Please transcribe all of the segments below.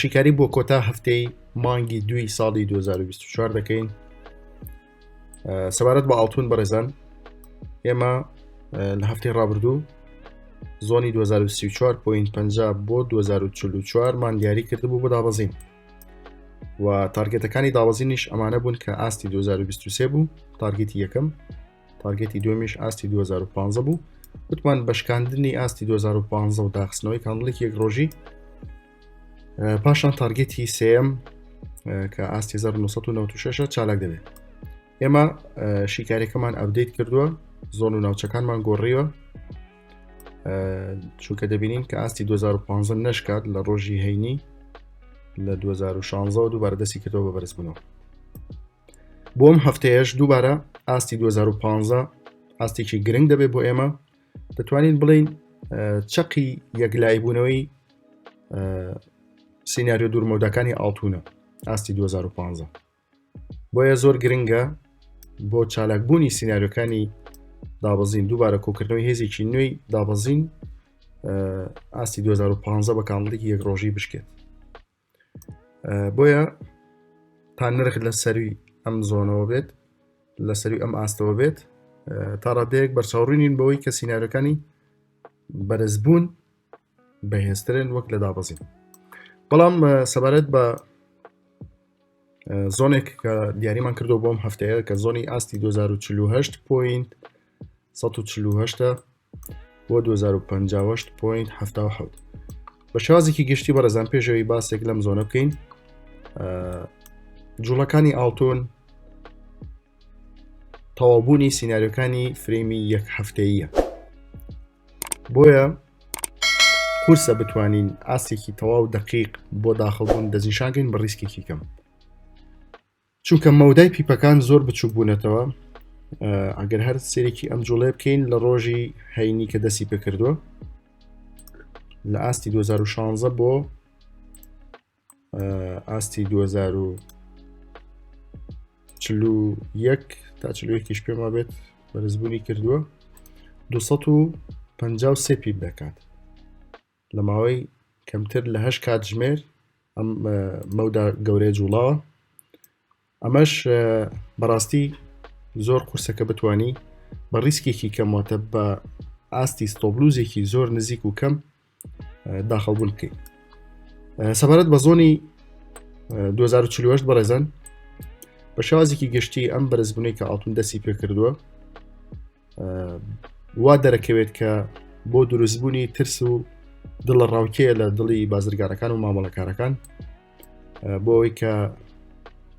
شیکاری بۆ کۆتا هەفتەی مانگی دوی ساڵی 2024 دەکەین سەبارەت بە ئاڵتون بەڕێزان ئێمە لە هەفتەی ڕابردوو زۆنی 2024.50 بۆ 2044 مان دیاری کردبوو بۆ دابەزین و تارگێتەکانی دابەزینیش ئەمانە بوون کە ئاستی 2023 بوو تارگێتی یەکەم تارگێتی دومیش ئاستی 2015 بوو وتمان بەشکاندنی ئاستی 2015 و داخستنەوەی کاندڵێکی یەک ڕۆژی پاشان تارگێتی سم کە ئاستی 1996 چالاک دەبێت ئێمە شیکارەکەمان ئەبدەیت کردووە زۆن و ناوچەکانمان گۆڕیوە چونکە دەبینین کە ئاستی 2015 نشکات لە ڕۆژی هەینی لە 2016 دووبارە دەستی کردەوە بە بەرزبوونەوە بۆم هەفتەیەش دووبارە ئاستی 2015 ئاستێکی گرنگ دەبێت بۆ ئێمە دەتوانین بڵین چەقی یەکلایبوونەوەی سینناریۆ دوورمەوداکانی ئاڵتونە ئاستی 2015 بۆیە زۆر گرنگە بۆ چالاکبوونی سینناریۆکانی دابەزین دووبارە کۆکردنەوەی هێزێکی نوێی دابەزین ئاستی 2015 بە کامڵێکی یەک ڕۆژی بشکێت بۆیە تا نرخ لە سەروی ئەم زۆنەوە بێت لە سەروی ئەم ئاستەوە بێت تا ڕادەیەک بەرچاوڕینین بەوەی کە سینناەکانی بەرزبوون بەهێزترن وەک لە دابەزین بەڵام سەبارەت بە زۆنێک کە دیاریمان کردو بۆم هەفتەیە کە زۆنی ئاستی 2048 پوینت 1940 بۆ 2050.77 بە شازێکی گشتی بەڕێزان پێشەوەی باسێک لەم زۆنە بکەین جوڵەکانی ئاڵتون تەوابوونی سینناریۆکانی فرەیمی یەک هەفتەیە بۆیە کورسە بتوانین ئاستێکی تەواو دقیق بۆ داخڵبوون دەستنیشانگەین بە ڕیسکێکی کەم چونکە مەودای پیپەکان زۆر بچوک بوونەتەوە ئەگەر هەر سێرێکی ئەم جوڵێ بکەین لە ڕۆژی هەینی کە دەستی پێکردووە لە ئاستی 2016 بۆ ئاستی 2000 چلو یەک تا چلوەکیش پێما بێت بەرزبوونی کردووە 250 سێپی دەکات لە ماوەی کەمتر لە هەشت کاتژمێر ئەم مەودا گەورەیە جوڵاوە ئەمەش بەڕاستی زۆر قورسە کە بتانی بە ڕیسکێکی کەمواتە بە ئاستی ستۆبلوزێکی زۆر نزیک و کەم داخەڵبوون بکەیت سەبارەت بە زۆنی 2040 بەڕێزان بە شازێکی گشتی ئەم بەرزبوونەی کە ئاڵتون دەسی پێکردووە وا دەرەکەوێت کە بۆ دروستبوونی ترس و دڵە ڕاوکەیە لە دڵی بازرگانەکان و مامەڵەکارەکان بۆ ئەوی کە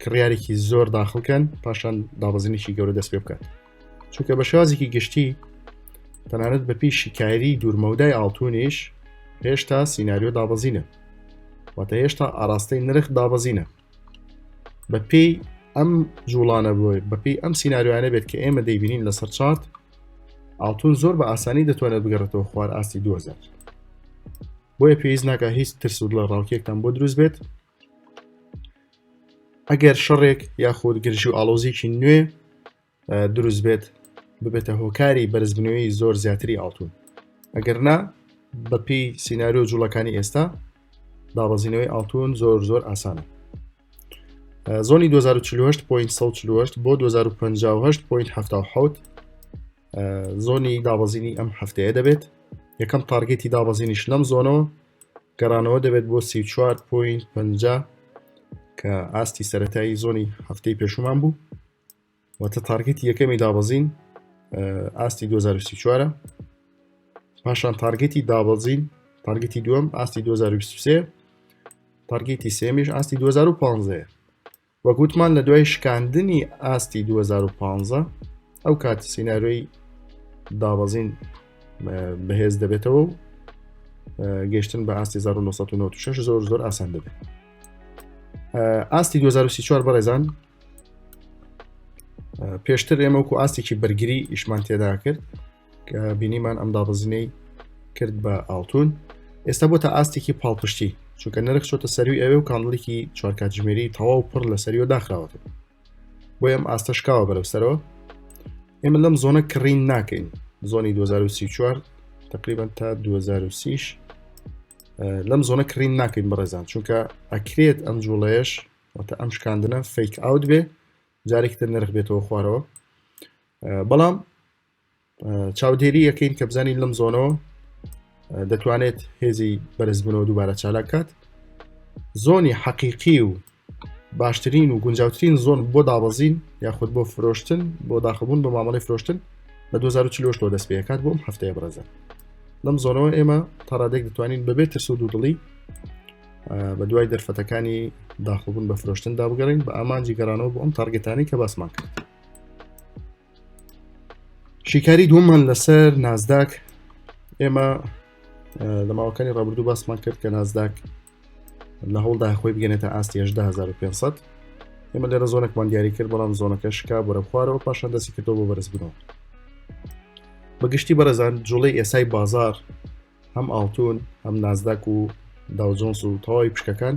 کڕیارێکی زۆر داخڵکەن پاشان دابەزینێکی گەورە دەست پێ بکات چونکە بە شازێکی گشتی تەنانەت بە پێی شیکایری دوورمەودای ئاڵتونیش هێشتا سینناریۆ دابەزینە واتە هێشتا ئاراستەی نرخ دابەزینە بە پێی ئەم جوڵانە بۆی بەپی ئەم سینناریوانە بێت کە ئێمە دەیبینین لەسەر چارت ئاڵتون زۆر بە ئاسانی دەتوانێت بگەڕێتەوە خوار ئاستی 2000 بۆیە پێویست ناکە هیچ ترس و لە ڕاوکێکتان بۆ دروست بێت ئەگەر شەڕێک یاخود گرژی و ئالۆزیکی نوێ دروست بێت ببێتە هۆکاری بەرزبنەوەی زۆر زیاتری ئاڵتون ئەگەر نا بەپی سینناریۆ جوڵەکانی ئێستا دابەزینەوەی ئاڵتون زۆر زۆر ئاسانە زۆنی 2048.48 بۆ 2050.7 زۆنی دابەزینی ئەم هەفتەیە دەبێت یەکەم تارگێتی دابەزینیش لەم زۆنەوە گەڕانەوە دەبێت بۆ 34.5 کە ئاستی سەتایی زۆنی هەفتەی پێشومان بوو واتە تارگەتی یەکەمی دابەزین ئاستی 2024 پاشان تارگەتی دابەزین تارگەتی دووەم ئاستی 2023 تارگەتی سێمیش ئاستی 2015 وە گوتمان لە دوای شکاندنی ئاستی 2015 ئەو کات سینناروی دابەزین بەهێز دەبێتەوە و گەشتن بە ئاستی 1996 زۆر زۆر ئاسان دەبێت ئاستی 2024 بەڕێزان پێشتر ئێمەکو ئاستێکی بەرگری ئیشمان تێدا کرد کە بینیمان ئەم دابەزینەی کرد بە ئاڵتون ئێستا بۆ تا ئاستێکی پاڵپشتی چونکە نرخ چۆتە سەروی ئەوێ و کاندڵێکی چوارکاتژمێری تەواو پڕ لە سەریەوە داخراوەتە بۆ ئەم ئاستەشکاوە بەرەو سەرەوە ئێمە لەم زۆنە کڕین ناکەین زۆنی 2024 تقریبان تا 2030 لەم زۆنە کڕین ناکەین بەڕێزان چونکە ئەکرێت ئەم جوڵەیەش واتە ئەم شکاندنە فیک ئاوت بێ جارێکتر نرخ بێتەوە خوارەوە بەڵام چاودێری یەکەین کە بزانین لەم زۆنەوە دەتوانێت هێزی بەرزبنەوە دووبارە چالاک کات زۆنی حەقیقی و باشترین و گونجاوترین زۆن بۆ دابەزین یاخود بۆ فرۆشتن بۆ داخبوون بە مامەڵی فرۆشتن لە 2040 دەست پێکات بۆم هەفتەیە بەڕێزە لەم زۆنەوە ئێمە تاڕادێک دەتوانین بەبێت ترس و دوودڵی بە دوای دەرفەتەکانی داخڵبوون بە فرۆشتن دابگەڕین بە ئامانجی گەڕانەوە بۆ ئەم تارگەتانی کە باسمان کرد شیکاری دووەمان لەسەر نازداک ئێمە لە ماوەکانی ڕابردوو باسمان کرد کە نازداک لە هەوڵدا خۆی بگەێتە ئاستی 500 ئێمە لێرە زۆنێکمان دیاری کرد بەڵام زۆنەکە شکا بەرە خوارەوە پاشان دەستی کردەوە بە بەرزبوونەوە بەگشتی بەرەزان جوڵی ئێسای بازار هەم ئاڵتون هەم نازداک و داوجۆنس و تەواوی پشکەکان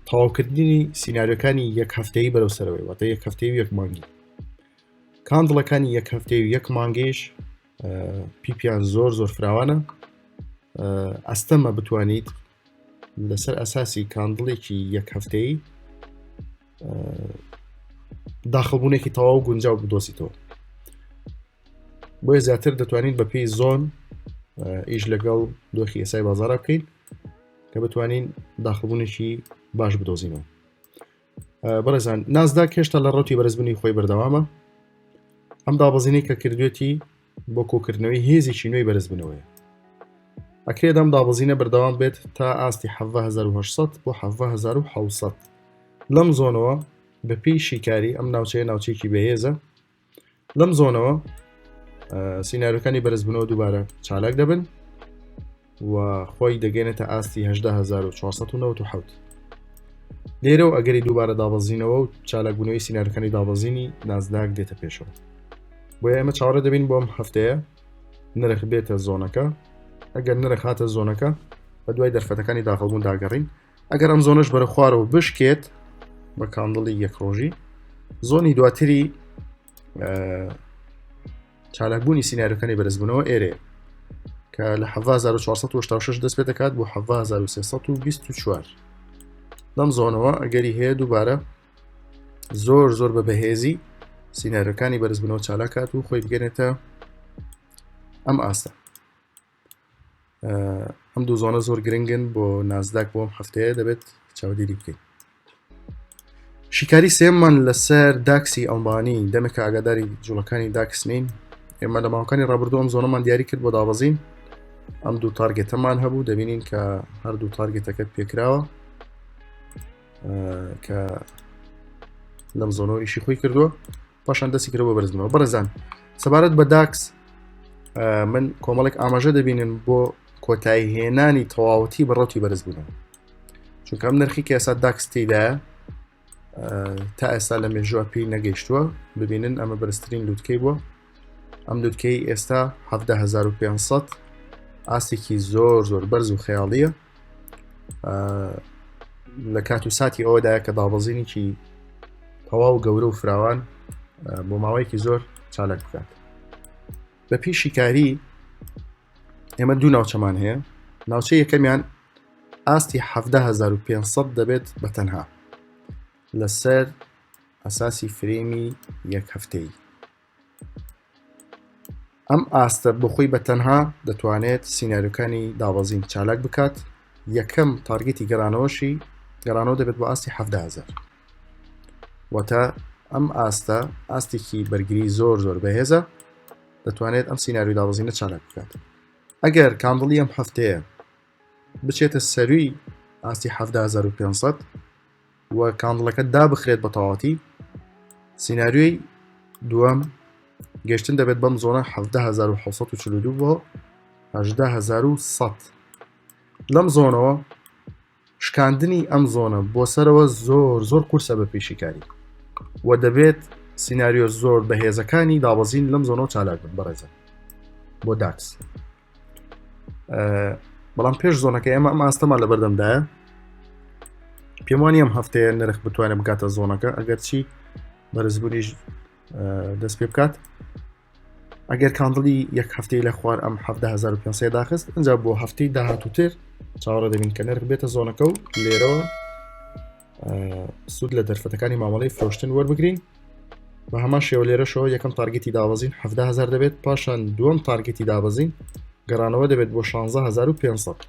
تەواوکردنی سینناریەکانی یەک هەفتەیە بەرەو سەرەوەی واتە یەک هەفتەیە یەک مانگی کاندڵەکانی یەک هەفتەیە و یەک مانگەیش پیپیان زۆر زۆر فراوانە ئەستەمە بتوانیت لەسەر ئەساسی کاندڵێکی یەک هەفتەی داخەبوونێکی تەواو گونجاو بدۆزیتەوە بۆیە زیاتر دەتوانین بە پێی زۆن ئیش لەگەڵ دۆخی ئێسای بازارە بکەین کە بتوانین داخبوونێکی باش بدۆزینەوە بەڕێزان نازدا کێشتا لە ڕوتی بەرزبنی خۆی بەردەوامە ئەم دابەزینەی کە کردوێتی بۆ کۆکردنەوەی هێزێکی نوێی بەرزبنەوەیە ئەکرێت ئەم دابەزینە بەردەوام بێت تا ئاستی 1970 بۆ 1970 لەم زۆنەوە بەپی شیکاری ئەم ناوچەیە ناوچێکی بەهێزە لەم زۆنەوە سینناەرەکانی بەرزبنەوە دووبارە چالاک دەبن و خۆی دەگەێنێتە ئاستی 1970 لێرە و ئەگەری دووبارە دابەزینەوە و چالاکبوونەوەی سینارەکانی دابەزینی نازداک دێتە پێشەوە بۆ ئێمە چاوەڕە دەبین بۆم هەفتەیە نرخ بێتە زۆنەکە ئەگەر نرخ هاتە زۆنەکە بە دوای دەرفەتەکانی داخڵبوون داگەڕین ئەگەر ئەم زۆنش بەرە خوارەوە بشکێت بە کاندڵی یەک ڕۆژی زۆنی دواتری چالاکبوونی سینناریەکانی بەرزبوونەوە ئێرێ کە لە 1946 دەست پێ دەکات بۆ 1924 لەم زۆنەوە ئەگەری هەیە دووبارە زۆر زۆر بە بەهێزی سینناریەکانی بەرزبوونەوە چالاکات و خۆی بگەنێتە ئەم ئاستە ئەم دوو زۆنە زۆر گرنگن بۆ نازداک بۆم هەفتەیە دەبێت چاودێری بکەین شیکاری سێمان لەسەر داکسی ئەڵمانی دەمێکە ئاگاداری جوڵەکانی داکس نین ئێمە لە ماوەکانی ڕابردوو ئەم زۆنەمان دیاری کرد بۆ دابەزین ئەم دوو تارگێتەمان هەبوو دەبینین کە هەردوو تارگێتەکەت پێکراوە کە لەم زۆنۆریشی خۆی کردووە پاشان دەستی کرەوە بەرزمەوە بەڕزان سەبارەت بە داکس من کۆمەڵێک ئاماژە دەبینن بۆ کۆتایی هێنانی تەواوەتی بەڕەتی بەرز بوون چونکەم نرخی کە ئێستا داکستیدا تا ئێستا لە مێژوە پێی نەگەیشتووە ببینن ئەمە بەرزترین لوتکەی بووە ئەم لوتکەی ئێستا 1500 ئاستێکی زۆر زۆر بەرز و خەیاڵیە لە کات و ساتی ئەوەدا کە دابەزینێکی تەواو و گەورە و فراوان بۆ ماوەیەکی زۆر چالاک بکات بە پێی شیکاری ئێمە دوو ناوچەمان هەیە ناوچە یەکەمیان ئاستی 1500 دەبێت بە تەنها لەسەر ئەساسی فرێمی یەک هەفتەی ئەم ئاستە بخۆی بە تەنها دەتوانێت سینناریۆکانی دابەزین چالاک بکات یەکەم تارگەتی گەرانەوەشی گەرانەوە دەبێت بە ئاستی هزار واتە ئەم ئاستە ئاستێکی بەرگری زۆر زۆر بەهێزە دەتوانێت ئەم سینناریو دابەزینە چالاک بکات ئەگەر کاندڵی ئەم هەفتەیە بچێتە سەروی ئاستی 500 و کاندڵەکە دابخرێت بە تەواتی سینناریۆی دووەم گەشتن دەبێت بەم زۆنە 1942 بۆ 1970 لەم زۆنەوە شکاندنی ئەم زۆنە بۆ سەرەوە زۆر زۆر قورسە بە پێشیکاری و دەبێت سینناریۆ زۆر بەهێزەکانی دابەزین لەم زۆنەوە چالاک بن بەڕێزە بۆ داکس بەڵام پێش زۆنەکە ئێمە ئەم ئاستەمان لە بەردەمدایە پێم وانی ئەم هەفتەیە نرخ بتوانێت بگاتە زۆنەکە ئەگەرچی بەرزبوونیش دەست پێ بکات ئەگەر کاندڵی یەک هەفتەی لە خوار ئەم 1970 داخست ئەجا بۆ هەفتەی داهاتوتر چاوەڕە دەبین کە نرخ بێتە زۆنەکە و لێرەوە سود لە دەرفەتەکانی مامەڵی فرۆشتن وەربگرین بە هەمان شێوە لێرەشەوە یەکەم تارگەتی دابەزین 7هزار دەبێت پاشان دووەم تارگەتی دابەزین گەڕانەوە دەبێت بۆ 16500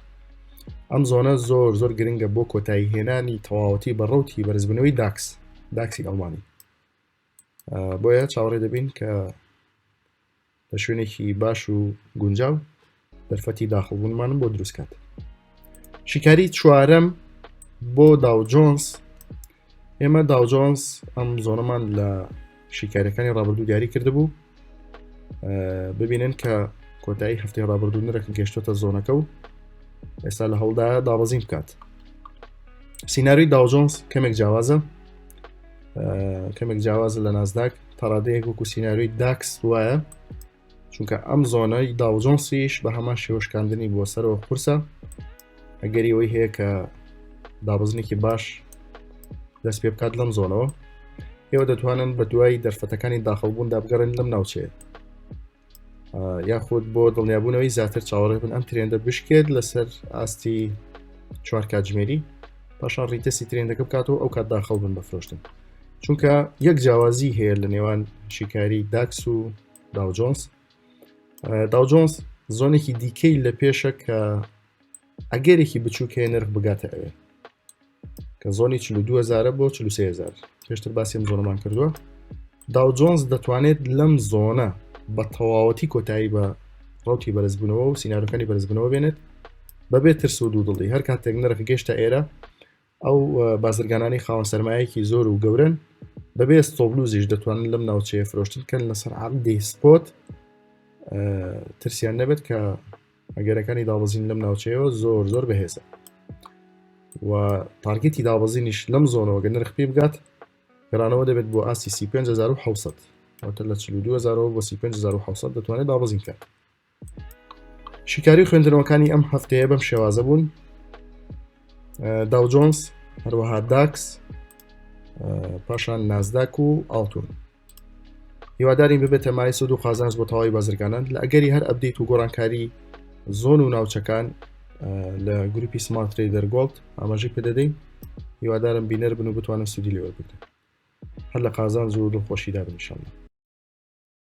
ئەم زۆنە زۆر زۆر گرنگە بۆ کۆتایی هێنانی تەواوەتی بە ڕوتی بەرزبنەوەی داکس داکسی ئەڵمانی بۆیە چاوەڕێ دەبین کە لە شوێنێکی باش و گونجاو دەرفەتی داخڵبوونمانم بۆ دروستکات شیکاری چوارەم بۆ داو جۆنس ئێمە داو جۆنس ئەم زۆنەمان لە شیکارەکانی ڕابردوو دیاری کرد بوو ببینن کە کۆتایی هەفتەی ڕابردوو نرەکن گەشتۆتە زۆنەکە و ئێستا لە هەوڵدا دابەزین بکات سینناروی داوجۆنس کەمێک جیاوازە کەمێک جیاوازە لە نازداک تاڕادەیەک وەکو سینناروی داکس وایە چونکە ئەم زۆنای داوجۆنسیش بە هەمان شێوەشکاندنی بۆ سەرەوە قورسە ئەگەری ئەوی هەیە کە دابزنێکی باش دەست پێ بکات لەم زۆنەوە ئێوە دەتوانن بە دوای دەرفەتەکانی داخڵبوون دابگەڕێن لەم ناوچێت یاخود بۆ دڵنیابوونەوەی زیاتر چاوەڕێ بن ئەم ترێندە بشکێت لەسەر ئاستی چوار کاتژمێری پاشان ڕیتەسی ترێندەکە بکاتەوە ئەو کات داخەڵ بن بە فرۆشتن چونکە یەک جیاوازی هەیە لە نێوان شیکاری داکس و داوجۆنس داوجۆنس زۆنێکی دیکەی لە پێشە کە ئەگەرێکی بچووک هەیە نرخ بگاتە ئەوێ کە زۆنی 2000 بۆ 403000 پێشتر باسیم زۆرمان کردووە داو جۆنز دەتوانێت لەم زۆنە بە تەواوەتی کۆتایی بە ڕوتی بەرزبوونەوە و سینناەکانی بەرزبنەوە بێنێت بەبێ ترس و دوو دڵی هەر کاتێک نرخ گەشتە ئێرە ئەو بازرگانانی خاوەن سەرمایەکی زۆر و گەورن بەبێ ستۆبلوزیش دەتوانن لەم ناوچەیە فرۆشتن کەن لەسەر عقدی سپۆت ترسیان نەبێت کە ئەگەرەکانی دابزین لەم ناوچەیەوە زۆر زۆر بەهێزە و تارگەتی دابزینیش لەم زۆنەوە گە نرخ پێ بگات گەرانەوە دەبێت بۆ ئاستی 1970 لە 2000 بۆ 1970 دەتوانێت دابزین کات شیکاری خوێندنەوەکانی ئەم هەفتەیە بەم شێوازە بوون داوجۆنس هەروەها داکس پاشان نازداک و ئاڵتون هیوادارین ببێتە مای سود و قازانس بۆ تەواوی بازرگانان لە ئەگەری هەر ئەبدیت و گۆڕانکاری زۆن و ناوچەکان لە گروپی سمارت تریدەر گۆڵد ئاماژی پێدەدەین هیوادارم بینەر بن و بتوانن سودی لێوەربگرن هەر لە قازان زۆر دڵخۆشیدا بنیشانە